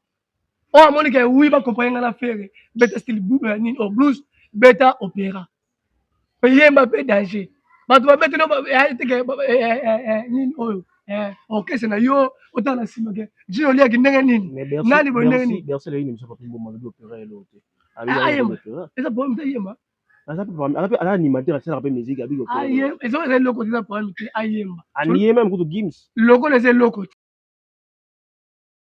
oyo amoni ke wi bakomprane nga na fere beta style eh, nini o oh, blues beta opera oyemba mpe danger bato babeteli eteke nini oyo orchestre na yo otala na nsima ke jino oliaki ndenge nini nani boye ndenge nini eza problème te ayemba aza mpe animateur asalaka mpe musique abiki eza eloko te eza problème te ayemba aniye meme kutu gims lokola eza eloko te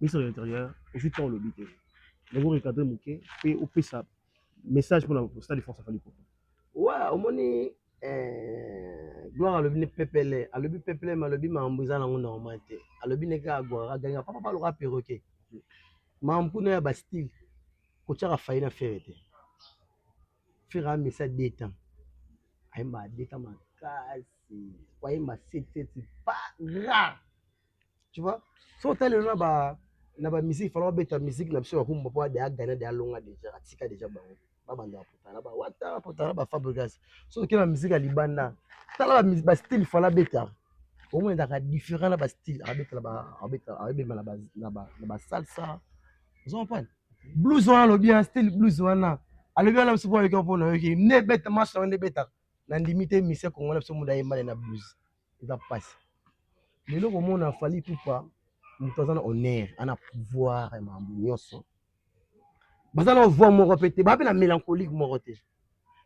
Ministre de l'Intérieur, ozwi temps olobi te. Yango recadrer moke mpe opesa message mpo na Stade de France ya Fally Ipupa. Wa omoni eh, Gloire alobi ne pepele, alobi pepele mais alobi mambo eza nango normal te. Alobi ne kaka Gloire aganga papa papa loka perroquet. Mambo kuna ya ba style kotiaka fayi na fere te. Fere amisa deux temps. Ayemba deux temps makasi. Ayemba 7 7 pas rare. tu vois so otali lelo na ba na ba musique fana babeta musique na biso ya kumba mpo ade agana de alonga deja atika deja bango babanda bapotana bawata bapotana bafabrigas so oke na musique ya libanda tala bastyle fana abeta omonetaka différent na bastyle abetala na basalsa ozo comprendre blues wana alobi ya style blues wana alobi wana biso mpo ayoki mpo nayoki nde ebeta marche yango nde ebetaka nandimi te mise kongo na biso muda ayembane na blues eza pasi lelo komona fali pupa moto aza na honneur ana pouvoir ya makambo nyonso baza na voix moko pe te baa pe na mélancolique moko te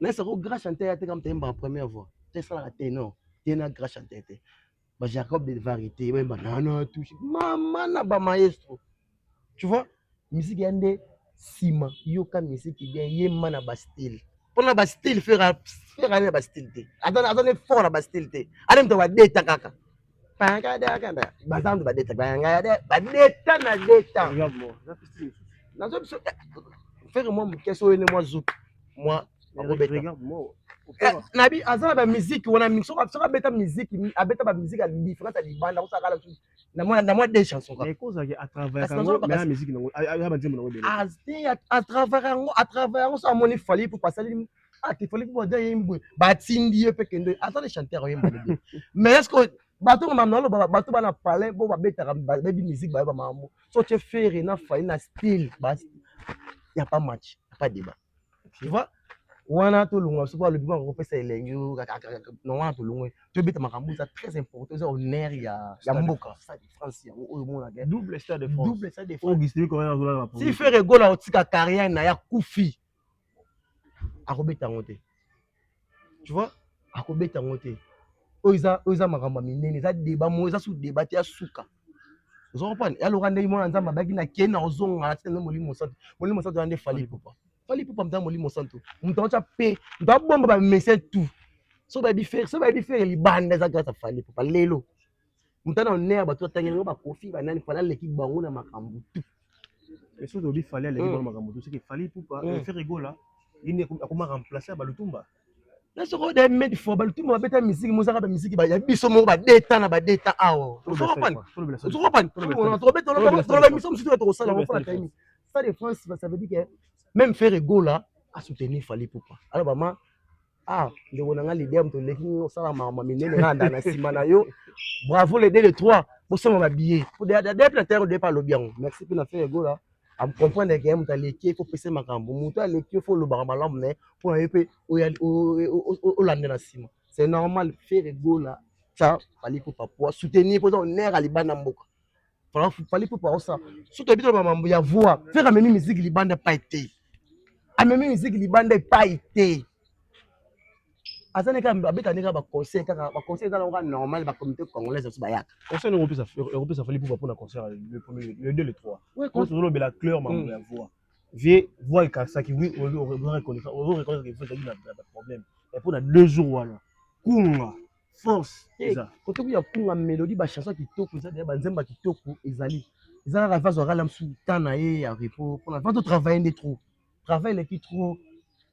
na sako grand chanteur ya te kama tayembaka première voix te esalaka tenor te na grand chanteur te ba jacob de varité bayemba nana touche mama na ba maestro tu vois musique ya nde sima yoka musique bien ye ma na ba style pona ba style fera fera na ba style te azana azana fort na ba style te ale mto ba deta kaka panga da kanda bazandu ba deta banga ya ba deta na deta na zo biso fera mwa mkeso ene mwa zuki mwa akobeta Eh, nabi aza na bamiziki wana mingi soki abeta miziki abeta bamiziki ya diference ya libanda kosala kala na mwa na mwa deux chansons kaka mais kozaki à travailler yango mais musique nango ya banzembo nango ebele azte à travailler yango à travailler yango ça moni fali pour passer ah te fali pour dire yembo ba tindi ye pe kendo ata les chanteurs yembo mais est-ce que bato ngoma nalo bato bana palais bo babetaka bayebi musique bayeba makambo so tie ferre na fali na style ba ya pas match pas débat tu vois wana tolongwa soki alobi maka kopesa elengi na wana tolongwe tobeta makambo eza très important eza honneur ya ya mboka stade de france yango oyo omonaka double stade de france double stade de france augustin comment azolala ba si ferre gola otika carrière na ya kufi akobeta yango te tu vois akobeta yango te oyo eza oyo eza makambo ya minene eza deba mo eza su deba te ya suka ozo comprendre ya loka ndenge mwana nzambe abaki na kena ozonga na tina molimo mosantu molimo mosantu ya nde fali popa fali popa mta molimo mosantu moto aotya pe moto abomba bamese tout so bayebi fere so bayebi fere libanda eza grâce ya fali popa lelo Muta na honneur bato batangela ngo bakofi banani fala leki bango na makambo tu. Est-ce que olobi fali aleki bango makambo tu? Soki fali pupa eh, Ferre Gola yende akoma remplacer Balutumba. Na soko de made for Balutumba babeta miziki mozaka ba miziki ba ya biso moko ba deta na ba deta awa. Soko pan. Soko pan. Soko beta loba loba miso msutu tokosala ngo pala kaimi. Ça de France ça veut dire que même Ferre Gola a soutenu Fali Poupa. Alors maman ah ndeko na nga leader moto oleki nini osala makambo ya minene nga anda na nsima na yo bravo le deux le trois bosomba ba billet po deya mpe na terre depa alobi yango merci mpe na fere gola amcomprendre ke moto aleki ye kopesa makambo moto aleki yo fo olobaka malamu na ye mpo na ye mpe olanda na nsima c'est normal fere gola tya baliku papua soutenir mpo eza onere ya libanda mboka Fally Ipupa aosa soki toyebi toloba mambo ya voix fere amemi miziki libanda epai te amemi miziki libanda epai te aza ndenge abeta ndenge baconseil kaka baconseil eza nango normal bacomité congolaise biso bayaka conseil ndenge opesa ekopesa fali pupa mpona concert le premier le deux le trois ozolobela cleur mambo ya voix vie voix ekasaki oui ozoreconnaissaki voix ezalaki na problème mais mpona deux jours wana kunga force eh, eza kote kuya kunga melodie ba chanson kitoko eza deya ba nzemba kitoko ezali eza kaka vazo akala mosusu temps na ye ya repos mpona vazo travaille nde trop travaille eleki trop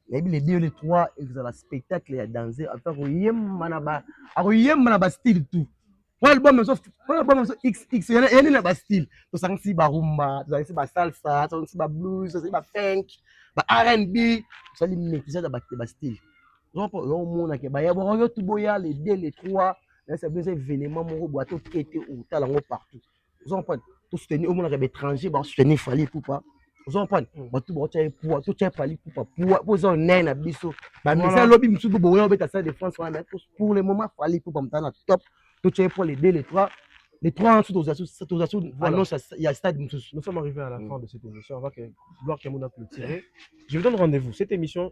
nayebi le deux le trois ekozala spectacle ya danse ape akoyemba na ba akoyemba na ba style tout wana album ezo wana album ezo xx yana yani na ba style tosangisi ba rumba tosangisi ba salsa tosangisi ba blues tosangisi ba funk ba R&B tosali maîtrise ya ba ba style donc yo omona ke baya boko yo tuboya le 2 le 3 là ça besoin événement moko boa to kete ou tala ngo partout vous en prenez to soutenir omona ke étranger ba soutenir Fally tout pas vous en prenez ba tout ba tchai poa to tchai Fally tout pas poa po zo nai na biso ba misa lobi misu bo boya obeta ça de France wana pour le moment Fally tout pas mtana top to tchai pour le 2 le 3 les trois ans sous voilà. annonce il y a stade Nous sommes arrivés à la mm. fin de cette émission. On va que Gloire Kamuna clôturer. Je vous donne rendez-vous. Cette émission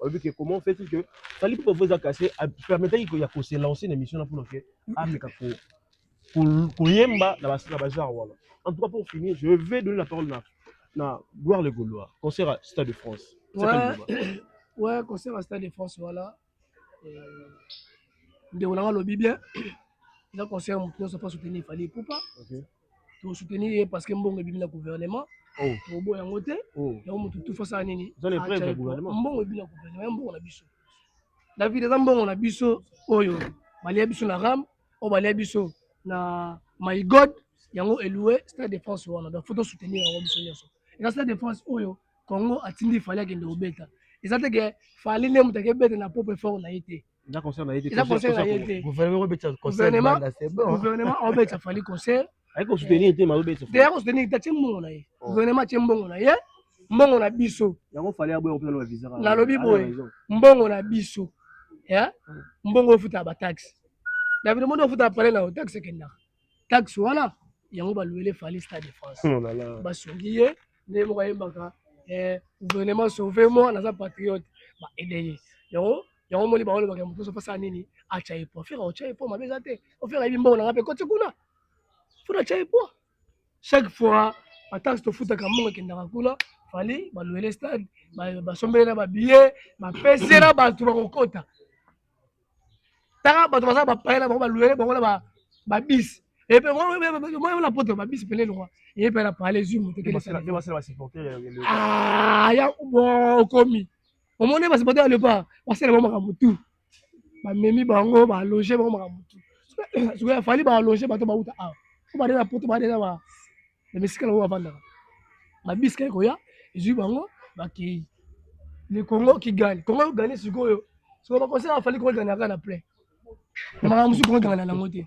olobi ke comment fait il que fali mpo bavo eza kase permetaki ya kose lance na émission na mpona ke ameka koyemba na bagenre wana en tout cas pour finir je vais donner la parole na na gloire le gaulois concert à stade de france ouais, ouais concert à stade de france voilà euh, ndeko nanga alobi bien eza concert moto nyonso mpo soutenir fali poupa okay. to soutenir ye parce que mbongo ebimi na gouvernement oh. tobo yango te oh. yango motu tufa sala nini mbongo ebimi na gouvernement ya mbongo na biso david eza mbongo na biso oyo balia biso na ram oyo balia biso na my god yango eloue stade de france wana donc faut tosoutenir yango biso nyonso eza stade de france oyo congo atindi fali akende kobeta eza te ke fali nde moto akebeta na propre fort na ye te eza concert na ye te eza concert na ye te gouvernement ko betisa concert gouvernement c'est bon gouvernement o betisa fali concert ayi ko soutenir te ma betisa te ko soutenir ta mbongo na ye oh. gouvernement tie mbongo na ye mbongo na biso yango fali ya boye opela visa na lobi boye mbongo na biso ya mbongo ofuta ba taxe na bino mbongo ofuta pale na taxe kenda taxe wana yango baluele fali stade de France oh basungi ye nde moko ayembaka eh, gouvernement sauve moi naza patriote ba aide ye yango yango moni ba olobaka moto so pasala nini acha ye poa fera ocha ye poa mabe eza te ofera yebi mbongo na nga mpe koti kuna fona acha ye poa chaque fois batansi tofutaka mbongo ekendaka kuna fali baluele stade basombeli na babillet bapesela bato bakokota taka bato baza bapayela bango baluele bango na babisi epe na poto babisi pene lokwa epe na pale zwi moto ya okomi omoni ba supporter ya leopard basala bango makambo tout bamemi bango baloge bango makambo tout sikoyo afali baloge bato bauta awa po bade na poto bade na ba emesikala oyo bavandaka babiska ekoya ezwi bango bakei le congo kigali congo gane sikoyo sikoyo bakonsela afali kongo ganaka na plein na makambo mosusu kongo gangana nango te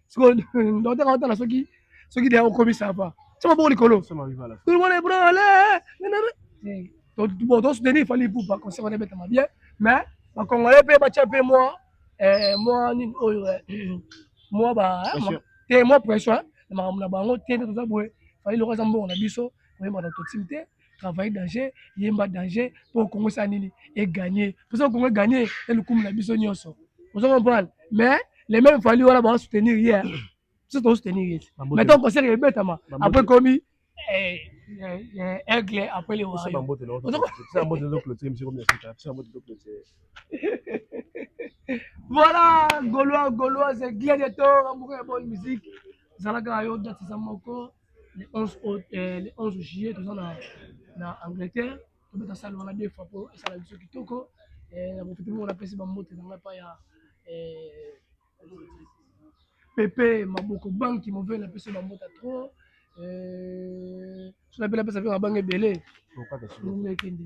sikoyo ndota kaka otala soki soki deya okomisa apa tya maboko likolo tolobona ebrale bon tosoutenir fali ipupa conseil wana ebetama bien mais bacongolais mpe batya mpe mwa eh, mwa nini oyo eh, mwa ba eh, te mwa pression na makambo na bango te nde toza boye fali loko aza mbongo na biso koyemba na totim te travaille danger yemba danger mpo kongo esala nini eganye mposa kongo eganye elukumu na biso nyonso ozo comprendre mais les mêmes fali wana bawa soutenir ye biso tozo soutenir ye mais tant concert ebetama après komi eh, eh, eh, aigle après le wayo voilà golois goloise gladiator amoureux ya bonne musique zalaka yo datisa moko le 11 août euh, le 11 juillet toza na na Angleterre tobeta salle wana deux fois po esala biso kitoko eh, na profite moko napesi bambote na ngai pa ya eh, pepe maboko banki move napesi bambota trop eh, so napela pesa mpe mabanga ebele Lokata solo. ndenge ekende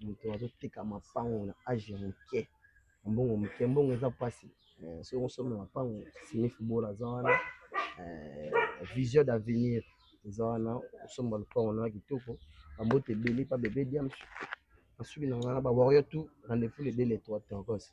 moto azoteka mapango na age ya moke na mbongo moke mbongo eza mpasi eh, soki osombi mapango sinifi bola aza wana eh, vision d'avenir eza wana osomba lopango na kitoko bambote ebele pa bebe diams nasuki na ngai na bawario tout rendez-vous le 2 le 3 tokose